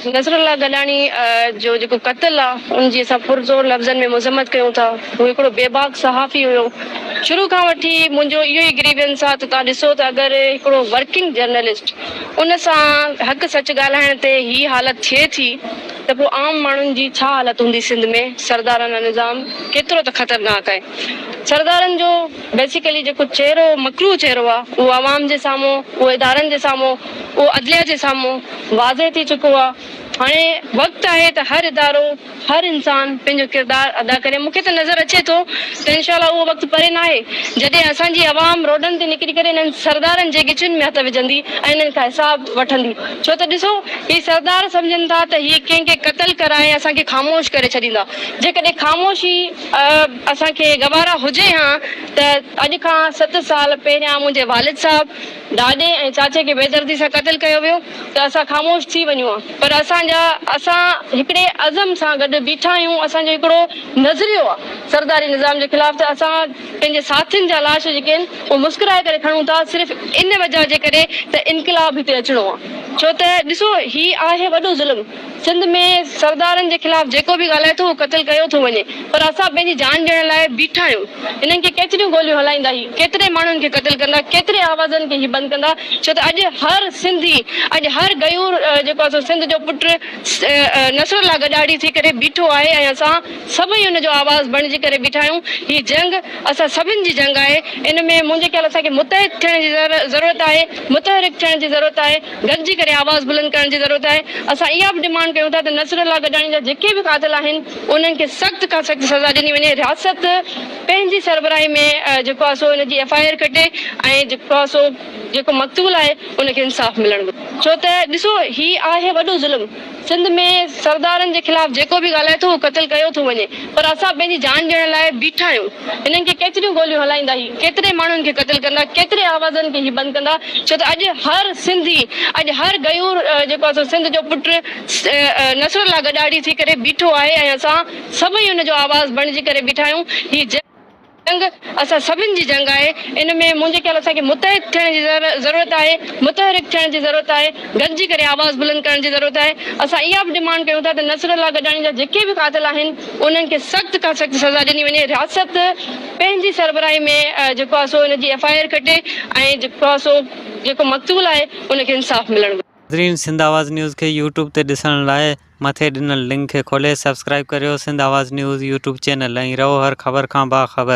نصر الله گڏاڻي جو جيڪو قتل آ ان جي اسان پرزور لفظن ۾ مذمت ڪيون ٿا. هو هڪڙو بي باڪ صحافي هيو. شروع کان وٺي منهنجو اهو ئي گريوينس آ ته توهان ڏسو ته اگر هڪڙو ورڪنگ جرنلسٽ ان سان حق سچ ڳالهائڻ تي هي حالت ٿئي ٿي ته پوء عام ماڻهن جي ڇا حالت هوندي سنڌ ۾ سردارانه نظام ڪيترو ته خطرناڪ آهي سردارن جو بيسيڪلي جيڪو چهرو مڪروه چهرو آ اهو عوام جي سامهون اهو ادارن جي سامهون اهو عدليه جي سامهون واضح ٿي چڪو آهي. هاڻي وقت آهي ته هر ادارو، هر انسان پنهنجو ڪردار ادا ڪري. مون کي ته نظر اچي ٿو ته انشاء الله اهو وقت پري ناهي جڏهن اسان جي عوام روڊن تي نڪري ڪري انهن سردارن جي ڳچين ۾ هٿ وجهندي ۽ انهن کان حساب وٺندي. ڇو ته ڏسو هي سردار سمجهن ٿا ته هي ڪنهن کي قتل ڪرائي اسان کي خاموش ڪري ڇڏيندا. جيڪڏهن خاموشي اسان کي گوارا هجي هان ته اڄ کان ست سال پهريان منهنجي والد صاحب، ڏاڏي ۽ چاچي کي بيدردي سان قتل ڪيو ويو ته اسان خاموش ٿي وڃون ها پر اسان جا اسان هڪڙي عزم سان گڏ بيٺا آهيون اسان جو هڪڙو نظريو آهي سرداري نظام جي خلاف ته اسان پنهنجي ساٿين جا لاش جيڪي آهن اهي مسڪرائي ڪري کڻون ٿا صرف ان وجهه جي ڪري ته انقلاب هتي اچڻو آهي ڇو ته ڏسو هي آهي وڏو ظلم. سنڌ ۾ سردارن جي خلاف جيڪو به ڳالهائي ٿو اهو قتل ڪيو ٿو وڃي پر اسان پنهنجي جان ڏيڻ لاء بيٺا آهيون هنن کي ڪيتريون گوليون هلائيندا هي ڪيتري ماڻهن کي قتل ڪندا ڪيتري آوازن کي هي بند ڪندا ڇو ته اڄ هر سنڌي اڄ هر غيور جيڪو آهي سو سنڌ جو پٽ نصر الله گڏاڙي ٿي ڪري بيٺو آهي ۽ اسان سڀئي ان جو آواز بڻجي ڪري بيٺا آهيون هي جنگ اسان سڀن جي جنگ آهي ان ۾ منهنجي خيال اسان کي متحد ٿيڻ جي ضرورت آهي متحرڪ ٿيڻ جي ضرورت آهي. گڏجي ڪري آواز بلند ڪرڻ جي ضرورت آهي، اسان اها به ڊمانڊ ڪيون ٿا ته نصرالله گڏاڻي جا جيڪي به قاتل آهن انهن کي سخت کان سخت سزا ڏني وڃي، رياست پنهنجي سربراهي ۾ جيڪو آهي سو ان جي ايف آء آر ڪٽي ۽ جيڪو آهي سو جيڪو مقتول آهي ان کي انصاف ملڻ گهرجي ڇو ته ڏسو هي آهي وڏو ظلم. سنڌ ۾ سردارن جي خلاف جيڪو به ڳالهائي ٿو هو قتل ڪيو ٿو وڃي پر اسان پنهنجي جان ڏيڻ لاء بيٺا آهيون هنن کي ڪيتريون گوليون هلائيندا هي ڪيتري ماڻهن کي قتل ڪندا ڪيتري آوازن کي هي بند ڪندا ڇو ته اڄ هر سنڌي اڄ هر غيور جيڪو آهي سو سنڌ جو پٽ نصر الله گڏاڙي ٿي ڪري بيٺو آهي ۽ اسان سڀئي ان جو آواز بڻجي ڪري بيٺا آهيون هي جنگ اسان سڀن جي جنگ آهي، ان ۾ منهنجي خيال اسان کي متحد ٿيڻ جي ضرورت آهي، متحرڪ ٿيڻ جي ضرورت آهي، گڏجي ڪري آواز بلند ڪرڻ جي ضرورت آهي، اسان اها به ڊمانڊ ڪيون ٿا ته نصر الله گڏاڻي جا جيڪي به قاتل آهن انهن کي سخت کان سخت سزا ڏني وڃي، رياست پنهنجي سربراهي ۾ جيڪو آهي سو ان جي ايف آء آر ڪٽي ۽ جيڪو آهي سو جيڪو مقتول آهي ان کي انصاف ملڻ گهرجي. ناظرين سنڌ آواز نيوز کي يوٽيوب تي ڏسڻ لاء مٿي ڏنل لنڪ کي کولي سبسڪرائيب ڪريو Sindh Awaz news YouTube channel ۽ رهو هر خبر کان باخبر.